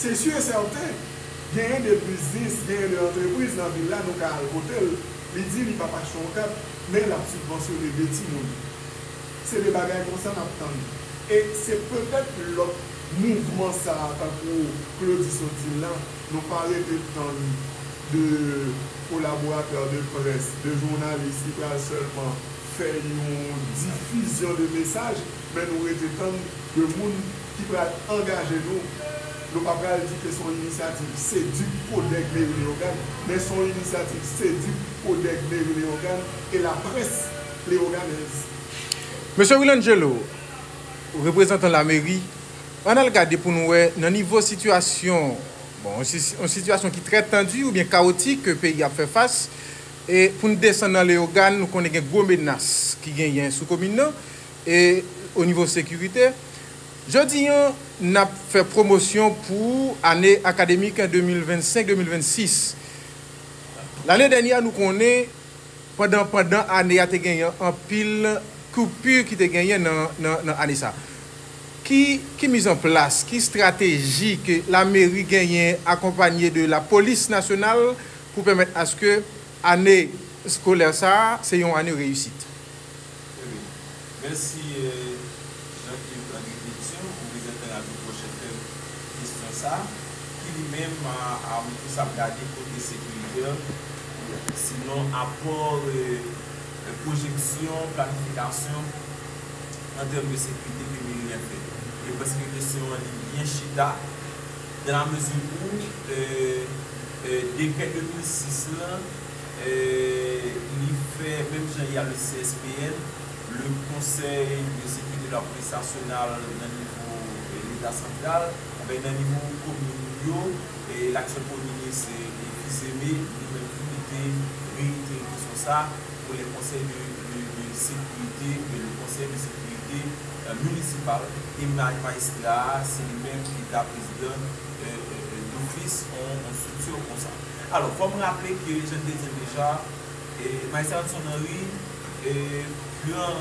Se su e sèten, genyen de biznis, genyen de antrepriz nan vil la nou ka al kote l, li di li p ap achte yon kat, men l ap sibvansyone de timoun. Se de bagay konsa n ap tann. E se petèt lòt mouvman sa a tankou Claudy sot di l la, nou pa rete tann de kolaboratè de près, de jounalis ki pral sèlman fè yon difizyon de mesaj, Men nou rete tann 2 moun ki pral angaje nou. Nou pa pral di ke se yon inisyativ CEDUC, Codeg Meri Leyogàn, men se yon inisyativ CEDUC, Codeg Meri Leyogàn e laprès leyoganèz.
Mesye Wilangelo, reprezantan lameri, ann al gade pou nou wè nan nivo sitiyasyon, bon, yon sitiyasyon ki trè tandi oubyen kawotik ke peyi a ap fè fas, e pou n desann nan Leyogàn, nou konnen gen gwo menas ki genyen sou komin nan, E o nivo sekirite, jodi an n ap fè pwomosyon pou ane akademik 2025, 2026. Lane dènyè a nou konnen pandan pandan ane a te genyen anpil koupur ki te genyen nan ane sa. Ki ki miz an plas, ki strateji ke lameri genyen akonpanye de lapolis nasyonal pou pèmèt aske ane skolè sa se yon ane reyisit? Wi.
Mèsi Jean Yves Andre Pétion ou prezantè la tou pwòch fèm kestyon sa ki li menm a m plis ap gade kote sekirite sinon apò pwojeksyon planifikasyon an tèm de sekirite ke meri a fè e paske kestyon an li byen chita dan la mezi ou dekrè 2006 lan li fè menm jan y a le CSPN, le Conseil de Sécurité de la Police Nationale nan nivo leta santral, anben nan nivo komin yo, laktyèl premye minis Duzeme li menm tou li te reitere kesyon sa pou le Conseil de Sécurité oubyen le Conseil de Sécurité Municipal e majistra a se li menm ki ta prezidan d'office on structure konsa. Alò, fò m raple ke jan n te di l deja, Majistra Hudson Henry pran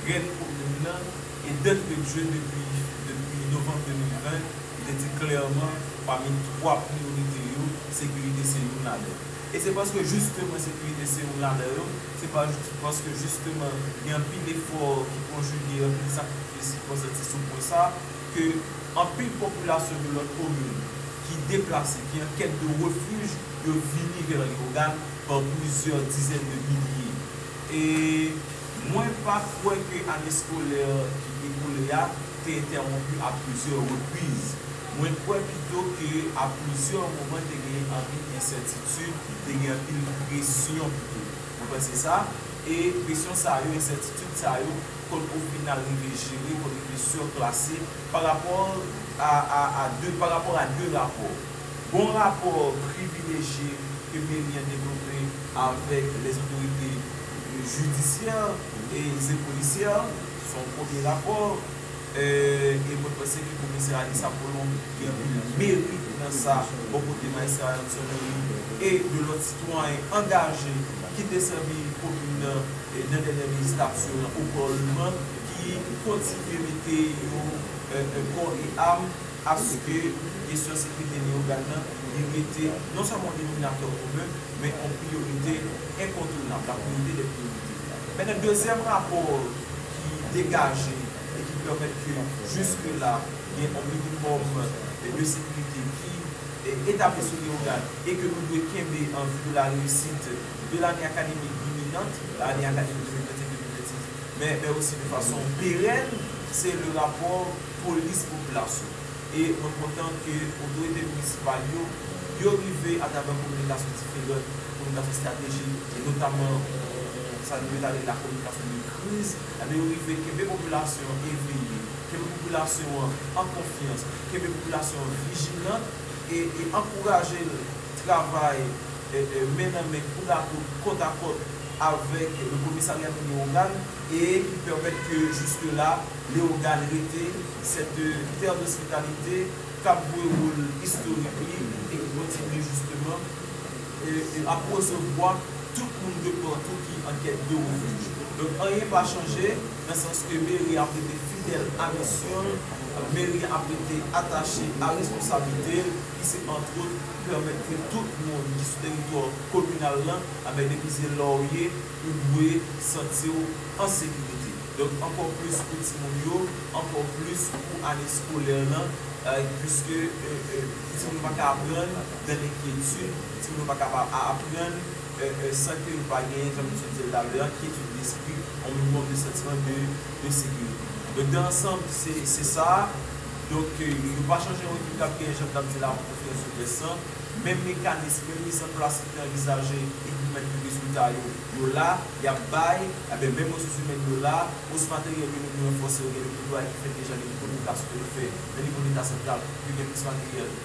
rèn komin nan e dantre de jeu depi novanm 2020, li te di klèman pami twa priyorite yo, sekirite se youn ladan yo. E se paske jisteman sekirite se youn ladan yo, se paske jisteman gen anpil efò ki konjige, anpil sakrifis ki konsanti sou pwen sa, ke anpil popilasyon de lòt komin ki deplase, ki an kèt de refij, yo vini vè Leyogàn pa plizyè dizèn de milye. E mwen pa kwè ke ane skolè ki ekoule a te entèwonpi a plizyè repriz. Mwen kwè pito ke a plizyè moman te genyen anpil ensètitid, te gen anpil presyon pito. Mwen panse sa. E presyon sa yo, ensètitid sa yo. Kot ou fin al rive jere kot ou rive surclasse par rapport a a a de par rapport a de rapò bon rapò privilejye ke meri an devlope avèk les otorite jidisyè e ze polisyè son premye rapò e mwen panse ke komisè Alix Appolon gen anpil meri nan sa bò kote maestro Ayrton Henry e de lòt sitwayen angaje ki te sèvi komin nan Nan dènyè vizit ap swiv lan Oklahoma ki kontinye mete yo kò e am aske kesyon sekirite Leyogàn nan li rete non sèlman yon denominatè komen men yon priyorite enkontounab, la priorite dè priyorite. Men nan dezyèm rapò ki degaje e ki pèmèt ke jiske la gen yon minimòm de sekirite ki etabli sou Leyogàn e ke nou dwe kenbe an vi de la reyisit de lane akademik iminant, lane akademik 2025-2026, men men osi de fason perèn, se le rapò polis popilasyon. E mwen kontan ke otorite minisipal yo, yo rive atravè kominikasyon diferant, kominikasyon estratejik, e notamman sa nou mèt rele la kominikasyon de kriz, enben yo rive kenbe popilasyon an eveye, kenbe popilasyon an an konfyans, kenbe popilasyon an vijilan. e ankouraje l travay men nan men, kout a kout, kòt a kòt avèk le komisarya de Leogàn e ki pèmèt ke juske la Leogàn rete cette terre d'hospitalité k ap jwe wol istorik li e ki kontinye jisteman ap resevwa tout moun de partout ki an kèt de refuj. Donk anyen pa chanje. nan sans ke meri ap rete fidèl a misyon l, meri ap rete atache a responsablite l ki se antwot pèmèt ke tout moun ki sou teritwa kominal lan, anben depi se la w ye, ou dwe santi w an sekirite. Donk ankò plis pou timoun yo, ankò plis pou ane skolè lan, puiske timoun yo pa ka aprann nan lenkyetid, timoun yo pa kapab aprann san ke yo pa genyen, jan misye di l talè a, kyetid despri, yon minimòm de santiman de sekirite. Donk dan ansanm, se sa a. Donk, yo pa chanje yon ekip k ap genyen, jan m t ap di l avan, konfyans sou tès lan. Menm mekanis, menm miz an plas ki te anvizaje e ki pèmèt ke rezilta yo, yo la, y ap bay, enben menm resous imèn yo la, os materyèl yo nou vle ranfòse yo, gen de netwayaj ki fèt deja, gen de kominikasyon ke nou fè nan nivo Leta santral pou ke gen plis materyèl.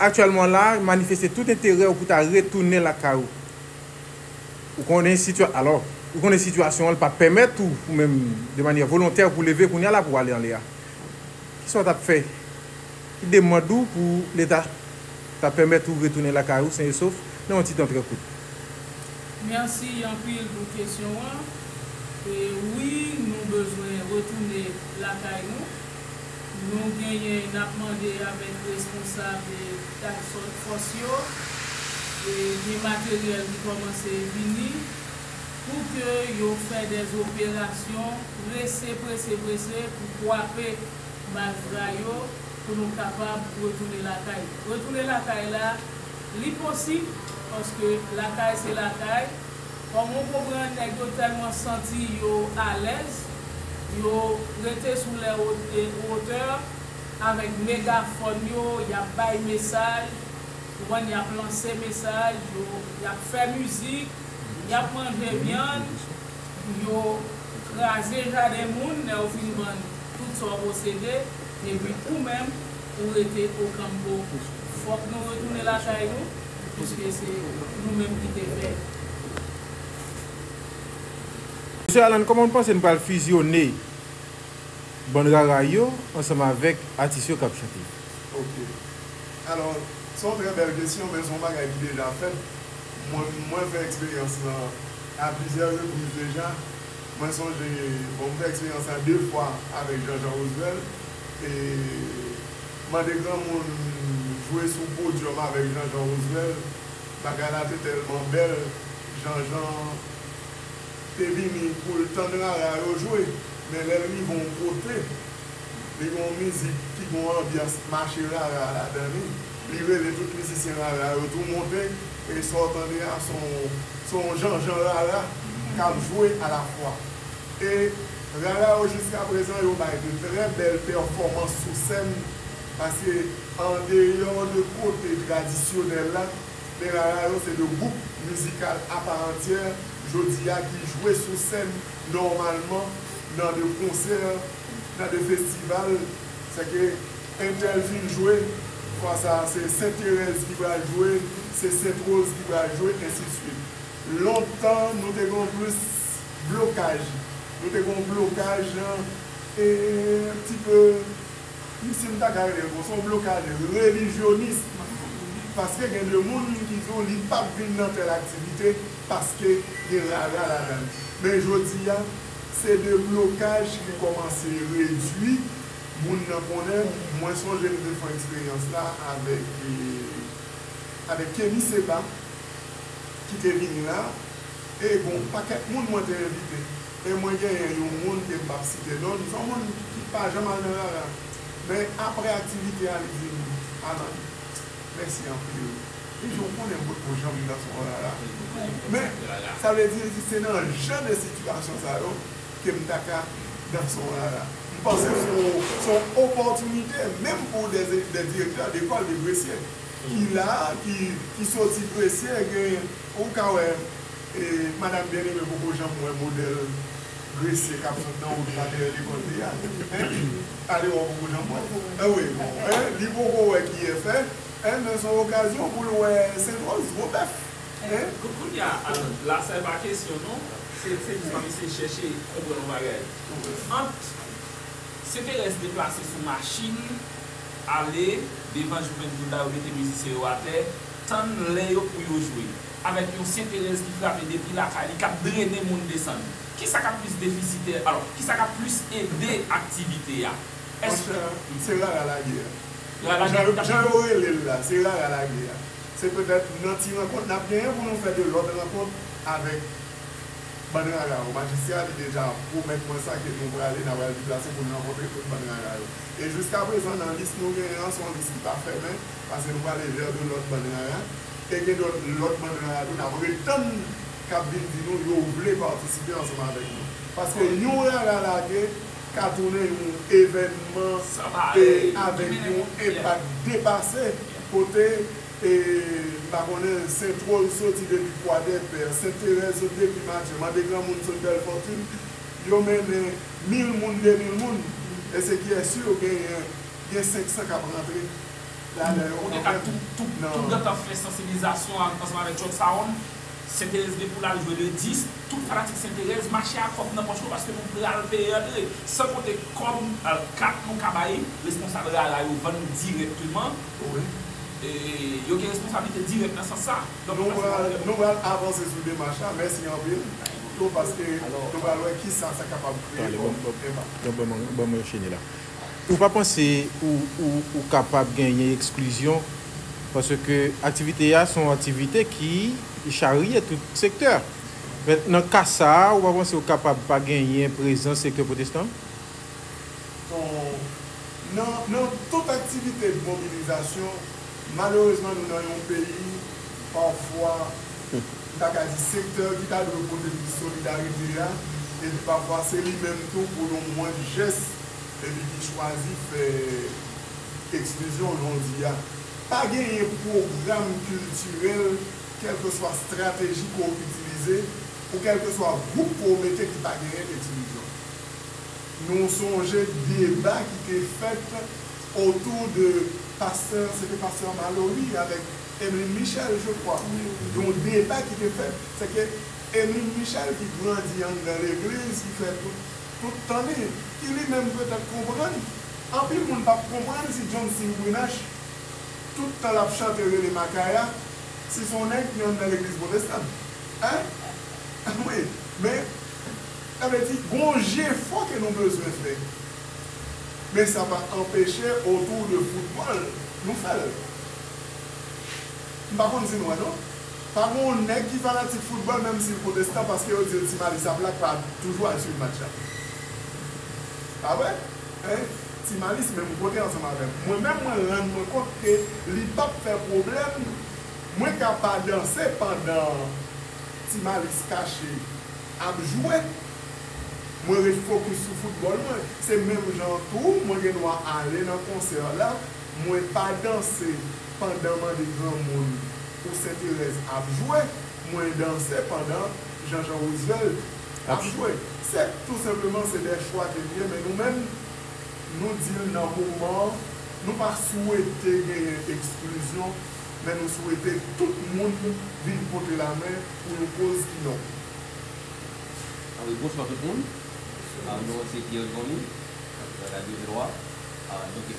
Aktyèlman la, manifeste tout enterè ou pou ta retounen lakay ou. Ou konnen sitya, alò, ou konnen sitiyasyon an li pa pèmèt ou ou menm de manyè volontè pou leve kounya la pou ale anlè a. Ki sa ou ta fè? Ki demand ou pou leta ta pèmèt ou retounen lakay ou sen e sof nan yon ti tan trè kout?
Mèsi anpil pou kesyon an. Wi, nou bezwen retounen lakay nou. nou genyen n ap mande avèk responsab task force yo e gen materyèl ki kòmanse vini pou ke yo fè dè operasyon prese prese prese pou kwape malfra yo pou nou kapab retounen lakay. Retounen lakay la li posib paske lakay se lakay. Kòman ou konprann nèg yo tèlman santi yo alèz, yo rete sou lè wotè avèk megafòn yo, y ap bay mesaj, ou konprann, y ap lanse mesaj, yo, y ap fè mizik, y ap manje vyann, yo kraze jaden moun lè yo fin vann tout sa w posede, epi ou menm ou rete Okanpo. Fòk nou retounen lakay nou, Eske
se nou menm ki te fè. Mesye Alan koman nou panse nou pral fizyone bann rara yo ansanm avèk atis yo kap chante? Ok
alò se yon trè bèl kesyon men se yon bagay ki deja fèt mwen fè eksperyans lan a plizyè repriz deja mwen sonje bon m fè eksperyans lan 2 fwa avèk Jean Jean Roswell e. Mande granmoun jwe sou podium avèk Janjan Rosnel bagay la te tèlman bèl Janjan te vini poul tann rara yo jwe men lèl rive yon kote li gen yon mizik ki gen yon anbyans mache rara ladan li li rele tout mizisyen rara yo tou monte e sa w tande a se yon janjan rara kap jwe alafwa. E Rara yo jiska prezan yo bay de trè bèl pèfòmans sou sèn paske an deyò de kote tradisyonèl la men Rara yo se de gwoup mizikal apa antyè jodi a ki jwe sou sèn nòmalman nan de konsè nan de festival se ke entèl fin jwe fwa sa a se Sent Terèz ki pral jwe se Sent Woz ki pral jwe ensi de swit lontan nou te gen yon plis. Blokaj, Nou te gen yon blokaj yon ti peu, m si m ta ka rele l konsa, yon blokaj relijyonis. Paske gen de moun ki di w li p ap vin nan tèl aktivite paske gen rara ladan l. Men jodi a, se de blokaj ki kòmanse redui moun nan konnen. Mwen sonje m te fon eksperyans la avèk avèk Kenny Seba ki te vini la. Ey gon pakèt moun mwen te envite e mwen genyen yon moun ke m pap site non l, son moun ki pa janm al nan rara men aprè aktivite a li di m Alan mèsi anpil li di ou konnen mwen poko janm rive al son rara men sa vle di li di se nan jan de sitiyasyon sa yo ke m ta ka nan son rara m panse son opòtinite menm pou dè direktè dekòl de Gresye ki la ki soti Gresye gen Ou ka wè madam byen eme poko janm wè modèl gresye kap sot nan wout la dèyè lekòl li a hein alewè ou poko janm wèl anmweyy bon hein li poko wè kiyè fè hein men son okazyon poul wè sentròz gwo bèf hein. Kounya Alan
la sa e pa kesyon non se se pou mwen eseye chèche konprann yon bagay ant Senterès deplase sou machin ale devan Juventud la yo mete mizisyen yo atè Tann lè yo pou yo jwe. Avèk yon Senterèz ki frape depi lakay li, k ap drene moun desann. Ki sa k ap plis defisitè, alò, ki sa k ap plis ede aktivite a? Èske. Monchè,
se rara lagè a. Rara lagè a. Jan yo rele l la, se rara lagè a. Se petèt nan ti rankont n ap genyen pou nou fè de lòt rankont avèk bann rara yo. Majistra li deja pwomèt mwen sa ke nou prale, n a pral deplase pou n rankontre tout bann rara yo. E jiskaprezan nan lis nou genyen an, s on lis ki pa fèmen. Pase nou pale ver de lot bann rara e gen dot lot bann rara tou nap ret tann kap vin di nou yo vle patisipe ansanm avek nou. Paske yon rara lage ka tounen yon evènman e avek yon enpak depase kote e m pa konnen sentrol soti depi kwadèpè, senterèz soti depi matye, mande granmoun sot bèlfòtun yo mennen mil moun, demil moun e se kiyès yo genyen Gen 500 k ap rantre
lalè yo nan pwen tout nan. Tout date ap fè sansibilizasyon ansanm avèk Truck Sound. Senterèz gen pou l al jwe le 10. Tout fanatik Senterèz mache ak kòb nan pòch nou paske nou pral peye antre. San konte kòb, kat nou ka bay responsab rara yo vann dirèkteman. Yo gen responsablite dirèk nan sans sa. Nou pral avanse sou demach la. Mèsi anpil
tou paske nou pral wè kisa sa kapab kreye kòm enpak. Ou
pa panse ou kapab genyen eksklizyon paske aktivite a se yon aktivite ki charye tout sektè. Men, nan ka sa a, ou pa panse ou kapab pa genyen prezans sektè pwotestan an? Ton,
Nan tout aktivite de mobilizasyon, malerezman nou nan yon peyi, pafwa, m ta ka di sektè ki ta dwe pote plis solidarite a, epi pafwa se li menm tou pou yon mwens jès. epi ki chwazi fè eksklizyon jan w di a. Pa genyen pwogram kiltirèl kèlkeswa strateji ke w itilize pou kèlkeswa gwoup ke w mete ki pa genyen eksklizyon. Nou sonje deba ki te fèt otou de pastè, se te pastè Malory avèk Emeline Michel je kwa, yon deba ki te fèt se ke Emeline Michel ki grandi anndan legliz ki fè tout tout tan li, ki li menm petèt konprann, anpil moun pap konprann si John Singh Brunache, tout tan lap chante rele Makaya, si son nèg ki anndan legliz pwotestan. Hein? Wi, men, sa vle di gon jefò ke nou bezwen fè. Men sa pa anpeche autour de football nou fèl. M pa konn si nou wè non. Pa gen yon nèg ki fanatik foutbòl menm si l pwotestan paske yo di yo Ti Mali sa blak pa toujou al swiv match la. Pa vre? Hein? Ti Mali se menm kote ansanm avè m. Mwen menm mwen rann mwen kont ke li p ap fè pwoblèm mwen ka pa danse pandan Ti Mali kache ap jwe. Mwen ret fokis sou foutbòl mwen. Se menm jan an tou mwen gen dwa ale nan konsè la mwen pa danse pandan mande granmoun. pou senterèz ap jwe mwen danse pandan janjan rouzvèlt ap jwe se tou senpleman se de chwa ke li ye men nou menm nou di l nan moman nou pa swete genyen eksklizyon men nou swete tout moun vin pote lamen pou yon koz ki nòb. Anwi bonswa
tout moun avm non an se Pierre Jhonny avm nan radio Veloa donk.